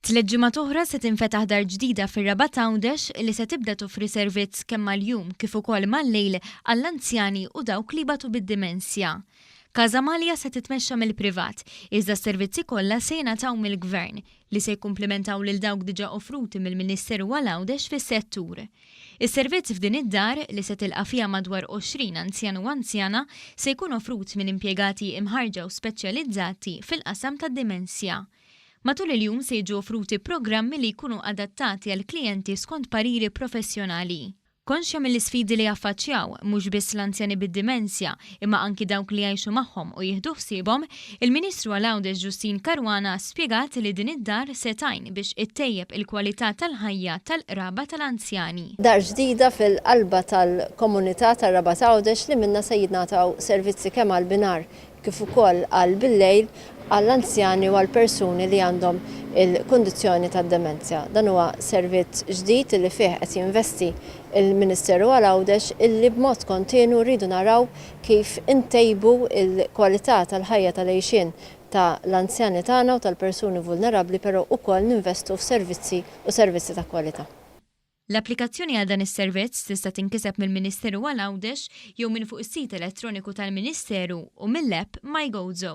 Tliet ġimgħat oħra se tinfetaħ dar ġdida fir-Rabat Għawdex li se tibda toffri servizz kemm mal-jum kif ukoll mal-lejl għall-anzjani u dawk li jbatu bid-dimensja. Casa Malia se titmexxa mill-privat, iżda s-servizzi kollha se jingħataw mill-Gvern, li se jikkumplimentaw lil dawk diġà offruti mill-Ministeru għal Għawdex fis-settur. Is-servizz f'din id-dar, li se tilqa' fiha madwar 20 anzjan u anzjana, se jkun offrut minn impjegati imħarrġa u speċjalizzati fil-qasam tad-dimensja. Matul il-jum se jiġu offruti programmi li jkunu adattati għall-klijenti skont pariri professjonali. Konxja mill-isfidi li jaffaċċjaw, mhux biss l-anzjani bid-dimensja, imma anki dawk li jgħixu magħhom u jieħdu ħsiebhom, il-Ministru għal Għawdex Justyne Caruana spjegat li din id-dar se tgħin biex ittejjeb il-kwalità tal-ħajja tal-qraba tal-anzjani. Dar ġdida fil-qalba tal-komunità tar-Rabat Għawdex li minnha se jingħataw servizzi kemm għall-binhar kif ukoll għal bil-lejl għall-anzjani u għall-persuni li għandhom il-kundizzjoni tad-demenzja. Dan huwa servizz ġdid li fih qed jinvesti il-Ministeru għal Għawdex illi b'mod kontinwu rridu naraw kif intejbu l-kwalità tal-ħajja tal-għixien ta' l-anzjani tagħna u tal-persuni vulnerabbli però ukoll ninvestu f'servizzi u servizzi ta' kwalità. L-applikazzjoni għal dan is-servizz tista' tinkiseb mill-Ministeru għal Għawdex jew minn fuq is-sit elettroniku tal-Ministeru u mill-app MyGozo.